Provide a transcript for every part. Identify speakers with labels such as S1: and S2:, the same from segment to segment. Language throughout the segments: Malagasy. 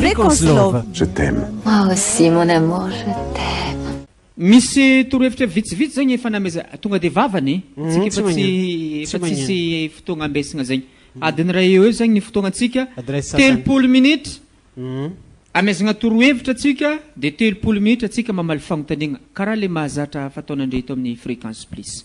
S1: Fréquence Love.
S2: Je t'aime. Moi
S3: aussi mon
S4: amour, je t'aime. Misy
S5: torohevitra vitsivitsy zegny efa nameza tonga de vavany mhm, tsika efa tsy efa tsisy fotoagna ambesagna zegny mhm. adiny ray eo eo zegny ny fotoagnatsika telopolo minitra mhm. amezagna torohevitra atsika de telopolo minitra atsika mamaly fagnontaniagna karaha le mahazatra fataonandre eto amin'ny fréquence plus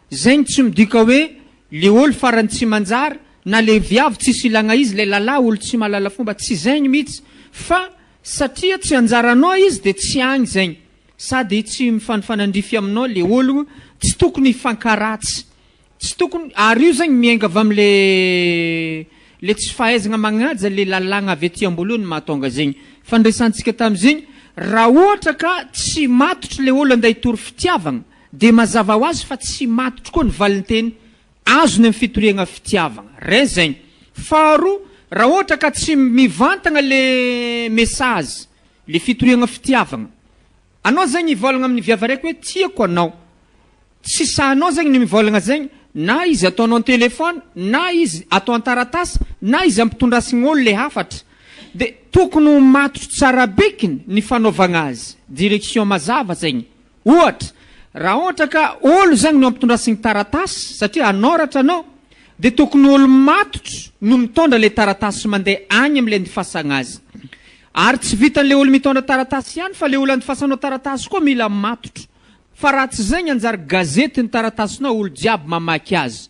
S5: Zay no tsy midika hoe le ol farany tsy manjary na le viavy tsisy ilagna izy le lalah ol tsy mahalala fomba tsy zegny mitsy fa satria tsy anjaranao izy de tsy agny zegny sady tsy mifanifanandrify aminao le ologno tsy tokony hifankaratsy tsy tokony ary io zegny miainga avy am le le tsy fahaizagna magnaja le lalagna avy aty amboalohany mahatonga zegny fandresantsika tamizegny raha ohatra ka tsy matotro le ol ande hitory fitiavagna Dia mazava ho azy fa tsy matotra koa ny valinteny azony amin'ny fitoriagna fitiavagna. Ray zegny. Faharoa, raha ohatra ka tsy mivantagna le message, le fitoriagna fitiavagna. Anao zegny hivôlagna amin'ny viavy araiky hoe tiako anao. Tsy sahinao zegny ny mivôlagna zegny, na izy ataonao an-telefaony, na izy atao an-taratasy, na izy ampitondrasigna olo le hafatra. Dia tokony ho matotra tsara bikiny ny fanaovagna azy. Direction mazava zegny. Ohatra, raha ohatra ka olo zagny no ampitondra signy taratasy satria anoratra anao de tokony olo matotro no mitondra le taratasy mande agny amle andifasagna azy. Ary tsy vitan le olo mitondra taratasy ihany fa le olo andifasanao taratasy koa mila matotro. Fa raha tsy zay ny anjara gazety ny taratasinao olo jiaby mamaky azy.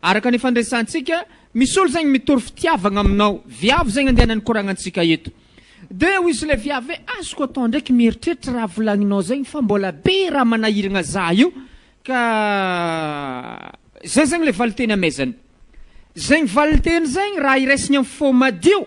S5: Araka ny fandresantsika, misy olo zegny mitory fitiavagna aminao, viavy zegny andeha nanikoragnan-tsika eto. De hoy izy le viavy hoe, azoko atao ndraiky mieritreritra raha volagninao zegny fa mbola be raha manahiragna za io ka zay zegny le valinteny amezany. Zegny valinteny zegny raha iraisigny am fo madio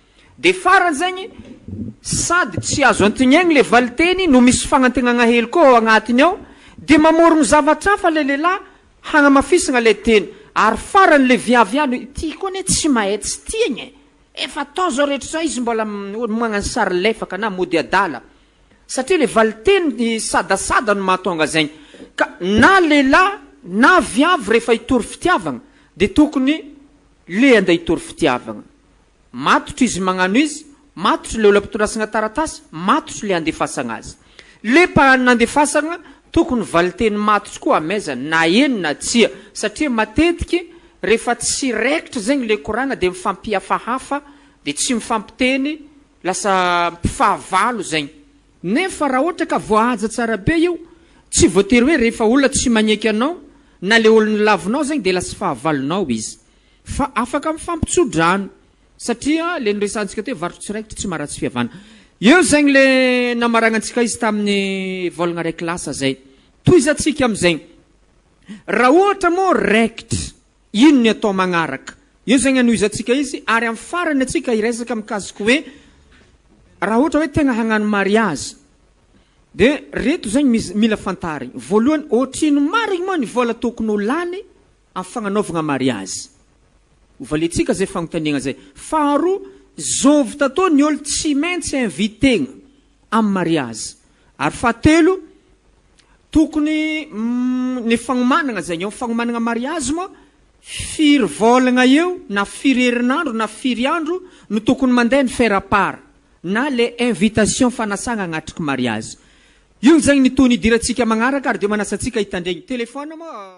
S5: Dia farany zegny, sady tsy azo antignegny le valinteny no misy fagnantegnagna hely koa ao agnatiny ao, dia mamorogno zavatra hafa le lehilahy hagnamafisagna le teny, ary farany le viavy ihany hoe ity koa anie tsy mahay tsy tiagna e! efa atao zao rehetra zao izy mbola magnano sary lefaka na mody adala, satria le valinteny sadasada no mahatonga zegny, ka na lehilahy na viavy rehefa hitory fitiavagna dia tokony le ande hitory fitiavagna, Matotra izy mañano izy, matotra le ola pitondrasagna taratasy, matotra le andefasagna azy. Le mpahay nandefasagna tokony valiteny matotra koa amaiza na eny na tsia, satria matetiky rehefa tsy raikitra zegny le koragna de mifampihafahafa de tsy mifampiteny lasa mpifahavalo zegny. Nefa raha ohatra ka voahaja tsara be io, tsy voatery hoe rehefa olona tsy magneky anao na le olona lavinao zegny de lasa fahavalonao izy. Fa afaka mifampitsodrano satria le noresahantsika teo varotra tsiraikitra tsy maharatsy fihavana. Eo zegny le namaragnantsika izy tamin'ny vôlagna raiky lasa zay. Tohizantsika amizegny. Raha ohatra mô raikitra, ino ny atao magnaraka? Eo zegny anohizantsika izy ary am farany atsika hiresaka mikasiky hoe raha ohatra hoe tegna hagnano mariazy de reto zegny mila fantarigny. Voalohany, ôtrino marigny mô ny vôla tokony ho lany Amin'ny fagnanaovagna mariazy. Ho valiantsika zay fagnontaniagna zay. Faharoa, zovy tatô ny ôlo tsy maintsy inviter-gna amin'ny mariazy. Ary fahatelo, tokony ny fagnomanagna zegny eo, fagnomanagna mariazy moa firy vôlagna eo na firy herinandro na firy andro no tokony mandeha ny faire part na le invitation fanasagna agnatriky mariazy. Io zegny ny tony hidirantsika magnaraka ary de manasa antsika hitandregny. Téléphone moa.